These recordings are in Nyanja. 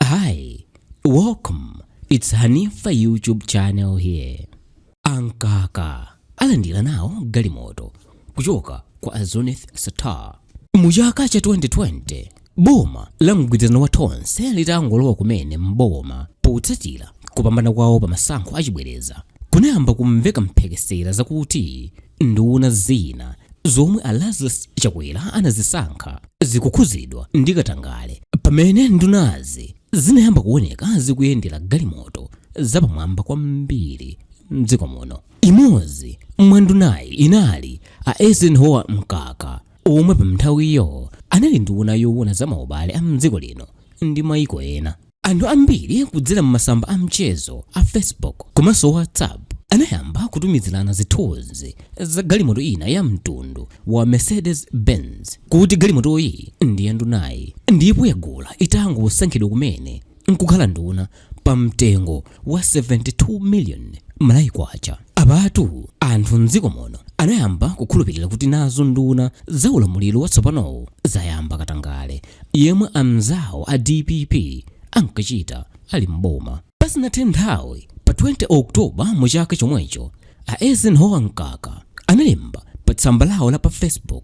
Hi, welcome. It's Hanifa YouTube channel here. A Mkaka alandira nawo galimoto kuchoka kwa a Zuneth Sattar. Mu chaka cha 2020, boma la mgwirizano wa Tonse litangolowa kumene m'boma potsatira kupambana kwawo pa masankho achibwereza kunayamba kumveka mphekesera zakuti Nduna zina zomwe a Lazarus Chakwera anazisankha zikukhuzidwa ndi katangale pamene ndunazi zinayamba kuoneka zikuyendera galimoto zapamwamba kwambiri mdziko muno. Imodzi mwa ndunayi inali a Eisenhower Mkaka omwe pamnthawiyo anali nduna yoona za maubale a mdziko lino ndi maiko ena. Anthu ambiri kudzera m'masamba a mchezo a Facebook komanso WhatsApp anayamba kutumizirana zithunzi za galimoto ina ya mtundu wa Mercedes Benz kuti galimotoyi ndi ya ndunayi ndipo yagula itangosankhidwa kumene nkukhala nduna pa mtengo wa 72 million Malawi Kwacha. Apatu anthu m'dziko muno anayamba kukhulupirira kuti nazo nduna za ulamuliro watsopanowu zayamba katangale yemwe amnzawo a DPP ankachita ali m'boma. Pasanathe nthawi, pa 20 October mu chaka chomwecho, a Eisenhower Mkaka analemba pa tsamba lawo la pa Facebook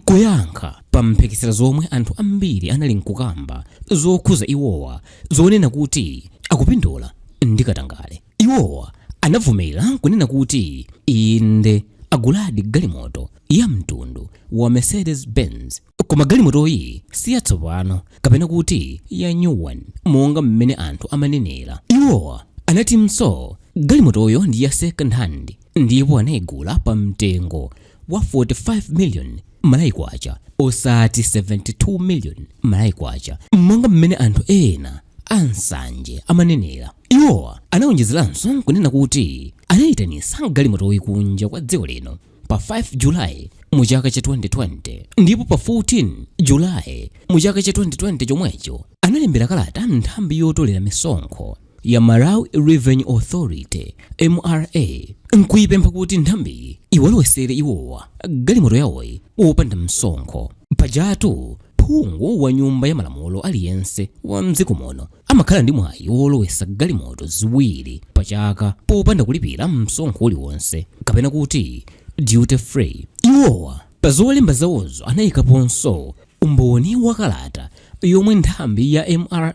Kuyankha pa mphekesera zomwe anthu ambiri anali nkukamba zokhuza iwowa zonena kuti akupindula ndi katangale, iwowa anavomera nkunena kuti inde aguladi galimoto ya mtundu wa Mercedes Benz koma galimotoyi si yatsopano kapena kuti ya new one monga mmene anthu amanenera. Iwowa anatinso galimotoyo ndi ya second hand ndipo anaigula pa mtengo wa 45 million Malawi Kwacha osati 72 million Malawi Kwacha monga mmene anthu ena ansanje amanenera iwowa anawonjezeranso nkunena kuti anayitanisa galimotoyi kunja kwa dziko lino pa 5 julayi mu chaka cha 2020 ndipo pa 14 julayi mu chaka cha 2020 chomwecho analembera kalata nthambi yotolera misonkho ya Malawi Revenue Authority, MRA, n'kuipempha kuti nthambiyi iwalowesere iwowa galimoto yawoyi wopanda msonkho. Pajatu phungu wa Nyumba ya Malamulo aliyense wa m'dziko muno amakhala ndi mwayi wolowesa galimoto ziwiri pachaka popanda kulipira msonkho uliwonse, kapena kuti duty free. Iwowa pa zolemba zawozo anaikaponso umboni wa kalata yomwe nthambi ya mra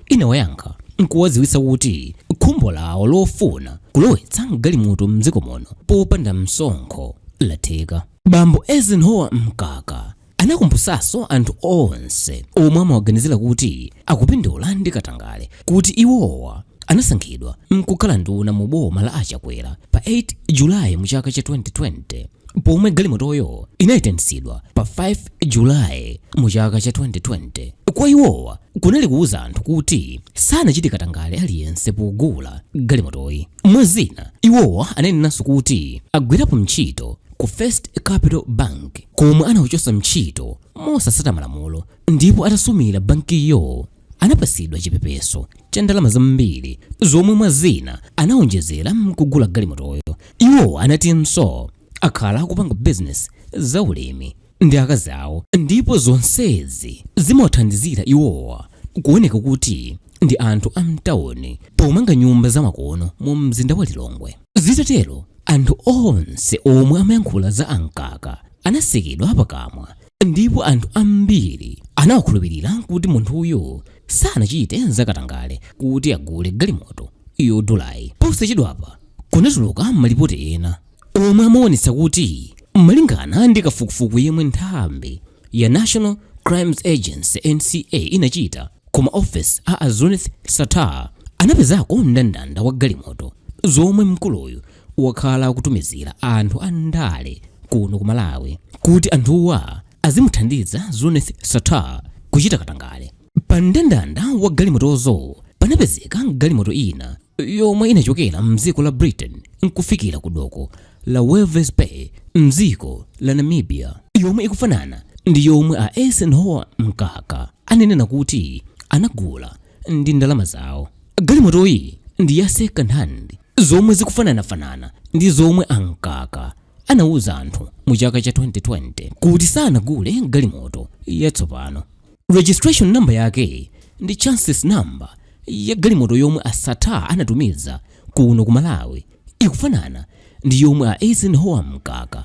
inawayankha nkuwadziwitsa kuti khumbo lawo lofuna kulowetsa galimoto mdziko muno popanda msonkho latheka bambo eisenhower mkaka anakumbutsanso anthu onse omwe amawaganizira kuti akupindula ndi katangale kuti iwowa anasankhidwa mkukhala nduna mu boma la a Chakwera pa 8 July mu chaka cha 2020 pomwe galimotoyo inayitanitsidwa pa 5 July mu chaka cha 2020. Kwa iwowa kunali kuwuza anthu kuti sanachite katangale aliyense pogula galimotoyi. Mwa zina, iwowa ananenanso kuti agwirapo mchito ku First Capital Bank komwe anawachosa mchito mosasata malamulo ndipo atasumira bankiyo anapatsidwa chipepeso cha ndalama zambiri zomwe mwa zina anawonjezera mkugula galimotoyo iwowa anatinso akhala akupanga bizinesi za ulimi ndi akazi awo ndipo zonsezi zimawathandizira iwowa kuoneka kuti ndi anthu a mtawuni pomanga nyumba zamakono mu mzinda wa lilongwe zitatero anthu onse omwe amayankhula za a mkaka anasekedwa pakamwa ndipo anthu ambiri anawakhulupirira kuti munthuyo sanachite zakatangale kuti agule galimoto yodulayi posachedwapa kunatuluka malipoti ena omwe amaonetsa kuti malingana ndi kafukufuku yemwe nthambi ya national crimes agency nca inachita kuma office a a zuneth sattar anapezako mndandanda wa galimoto zomwe mkuluyu wakhala akutumizira anthu a ndale kuno ku Malawi kuti anthuwa azimuthandiza Zuneth Sattar kuchita katangale. Pa mndandanda wa galimotozo panapezeka galimoto ina yomwe inachokera mdziko la Britain nkufikira ku doko la Walvis Bay mdziko la Namibia yomwe ikufanana ndi yomwe a Eisenhower Mkaka ananena kuti anagula ndi ndalama zawo. Galimotoyi ndi ya second hand zomwe zikufananafanana ndi zomwe a Mkaka anauza anthu mu chaka cha 2020 kuti sanagule galimoto yatsopano. Registration number yake ndi chassis number ya galimoto yomwe a Sattar anatumiza kuno ku Malawi ikufanana ndi yomwe a Eisenhower Mkaka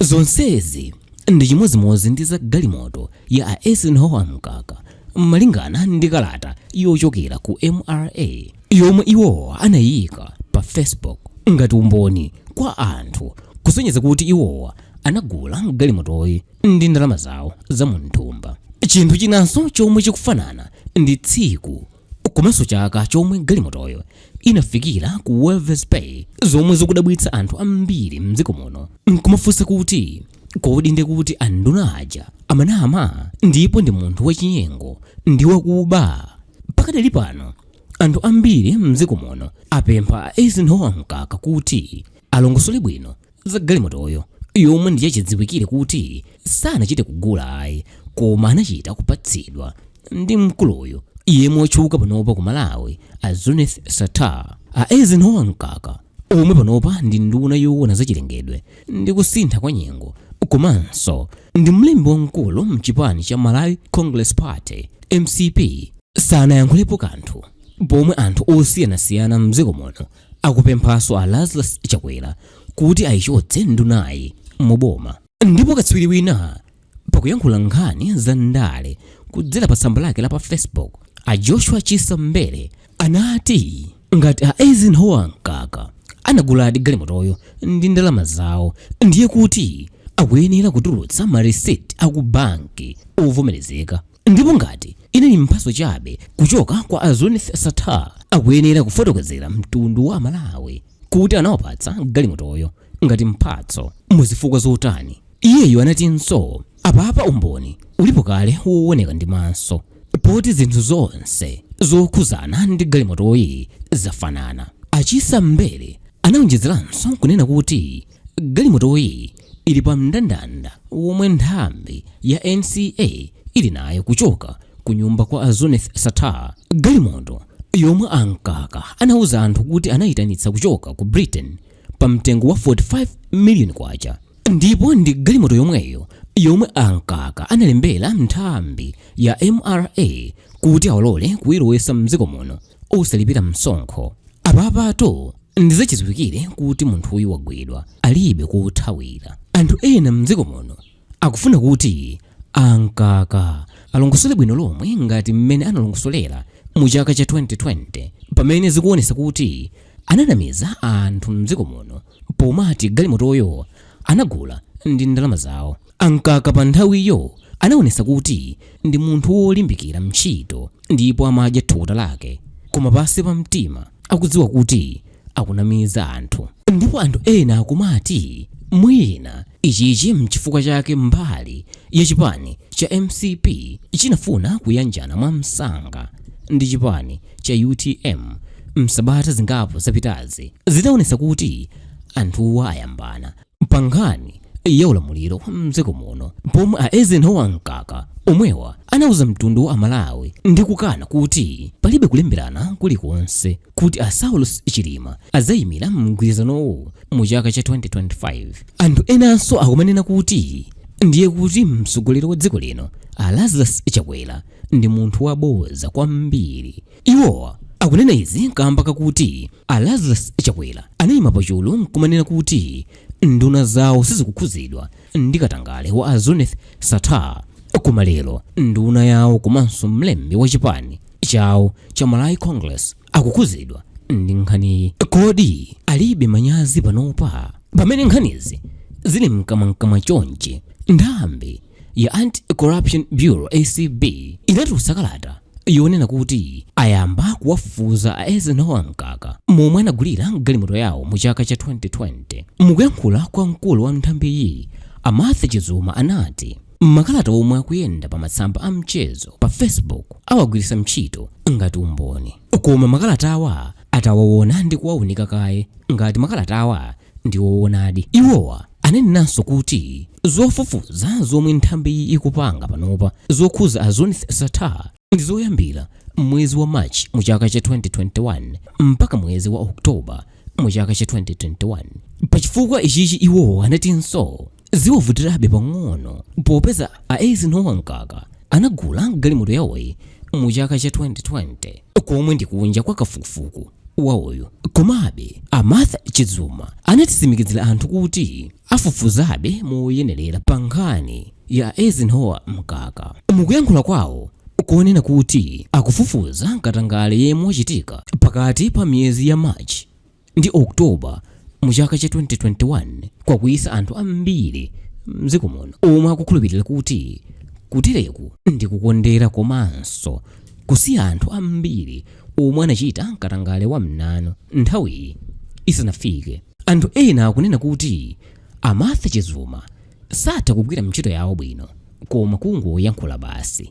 Zonsezi ndi chimodzimodzi ndi za galimoto ya a Eisenhower Mkaka malingana ndi kalata yochokera ku mra yomwe iwowa anayika pa Facebook ngati umboni kwa anthu kusonyeza kuti iwowa anagula galimotoyi ndi ndalama zawo za munthumba. Chinthu chinanso chomwe chikufanana ndi tsiku komanso chaka chomwe galimotoyo inafikira ku Walvis Bay zomwe zikudabwitsa anthu ambiri mdziko muno nkumafunsa kuti kodi ndi kuti anduna aja amanama ndipo ndi munthu wachinyengo ndi wakuba pakadali pano anthu ambiri mdziko muno apempha a Eisenhower Mkaka kuti alongosole bwino za galimotoyo yomwe ndi yachidziwikire kuti sanachite kugula ayi koma anachita kupatsidwa ndi mkuluyu yemwe watchuka panopa ku malawi a zuneth sattar a eisenhower mkaka omwe panopa ndi nduna yoona zachilengedwe ndi kusintha kwa nyengo komanso ndi mlembi wamkulu mchipani cha malawi congress party mcp sanayankhulepo kanthu pomwe anthu osiyanasiyana mdziko muno akupemphanso a Lazarus Chakwera kuti ayichotse ndunayi mu boma. Ndipo katswiri wina pakuyankhula nkhani za ndale kudzera pa tsamba lake la pa Facebook, a Joshua Chisa Mbele anati ngati a Eisenhower Mkaka anaguladi galimotoyo ndi ndalama zawo ndiye kuti akuyenera kutulutsa ma receipt aku banki ovomerezeka. Ndipo ngati inali mphatso chabe kuchoka kwa a Zuneth Sattar, akuyenera kufotokozera mtundu wa Amalawi kuti anawapatsa galimotoyo ngati mphatso mu zifukwa zotani. Iyeyo anatinso, Apapa umboni ulipo kale wooneka ndi maso poti zinthu zonse zokhuzana ndi galimotoyi zafanana. A Chisa Mbele anaonjezeranso kunena kuti, Galimotoyi ili pa mndandanda womwe nthambi ya NCA ili nayo kuchoka ku nyumba kwa a Zuneth Sattar. Galimoto yomwe a Mkaka anauza anthu kuti anayitanitsa kuchoka ku Britain pa mtengo wa 45 million kwacha ndipo ndi galimoto yomweyo yomwe a Mkaka analembera nthambi ya mra kuti awalole kuyilowetsa mdziko muno osalipira msonkho apapatu ndizachidziwikire kuti munthuyu wagwidwa alibe kothawira anthu ena mdziko muno akufuna kuti a mkaka alongosole bwino lomwe ngati mmene analongosolera mu chaka cha 2020 pamene zikuonesa kuti ananamiza anthu mdziko muno pomati galimotoyo anagula ndi ndalama zawo A Mkaka pa nthawiyo anaonesa kuti ndi munthu wolimbikira ntchito ndipo amadya thukuta lake koma pansi pa mtima akudziwa kuti akunamiza anthu. Ndipo anthu ena akumati mwina ichichi mchifukwa chake mbali ya chipani cha mcp chinafuna kuyanjana mwa msanga ndi chipani cha utm msabata zingapo zapitazi zinaonesa kuti anthuwa ayambana. pa nkhani ya ulamuliro wa mdziko muno pomwe a Eisenhower Mkaka omwewa anauza mtundu wa aMalawi ndi kukana kuti palibe kulemberana kulikonse kuti a Saulos Chilima adzayimira mgwirizanowu mu chaka cha 2025. Anthu enanso akumanena kuti ndiye kuti mtsogoleri wa dziko lino a Lazarus Chakwera ndi munthu waboza kwambiri Iwo akunena izi kamba kakuti a Lazarus Chakwera anayima pachulu nkumanena kuti nduna zawo sizikukhuzidwa ndi katangale wa a Zuneth Sattar koma lero nduna yawo komanso mlembi wa chipani chawo cha Malawi Congress akukhuzidwa ndi nkhaniyi. Kodi alibe manyazi panopa pamene nkhanizi zili mkamwamkamwa chonchi? Nthambi ya Anti-Corruption Bureau, ACB, inatulutsa kalata yonena kuti ayamba kuwafufuza a Eisenhower Mkaka momwe anagulira galimoto yawo mu chaka cha 2020. Mukuyankhula kwa mkulu wa nthambiyi, a Martha Chizuma anati makalata omwe akuyenda pa masamba a mchezo pa Facebook awagwiritsa ntchito ngati umboni, koma makalatawa atawaona ndi kuwaunika kaye ngati makalatawa ndi woonadi. Iwowa ananenanso kuti zofufuza zomwe nthambiyi ikupanga panopa zokhuza a Zuneth Sattar ndi zoyambira m'mwezi wa March mu chaka cha 2021 mpaka mwezi wa October mu chaka cha 2021. Pachifukwa ichichi iwowa anatinso ziwavutirabe pang'ono popeza a Eisenhower Mkaka anagula galimoto yawoyi mu chaka cha 2020 komwe ndi kunja kwa kafukufuku wawoyo komabe a Martha Chizuma anatsimikizira anthu kuti afufuzabe moyenerera pa nkhani ya a Eisenhower Mkaka mukuyankhula kwawo konena kuti akufufuza katangale yemwe wachitika pakati pa miyezi ya March ndi October mu chaka cha 2021 kwakwiyitsa anthu ambiri mdziko muno omwe akukhulupirira kuti kutereku ndi kukondera komanso kusiya anthu ambiri omwe anachita katangale wa mnanu nthawiyi isanafike. Anthu ena akunena kuti a Martha Chizuma satha kugwira ntchito yawo bwino koma kungoyankhula basi.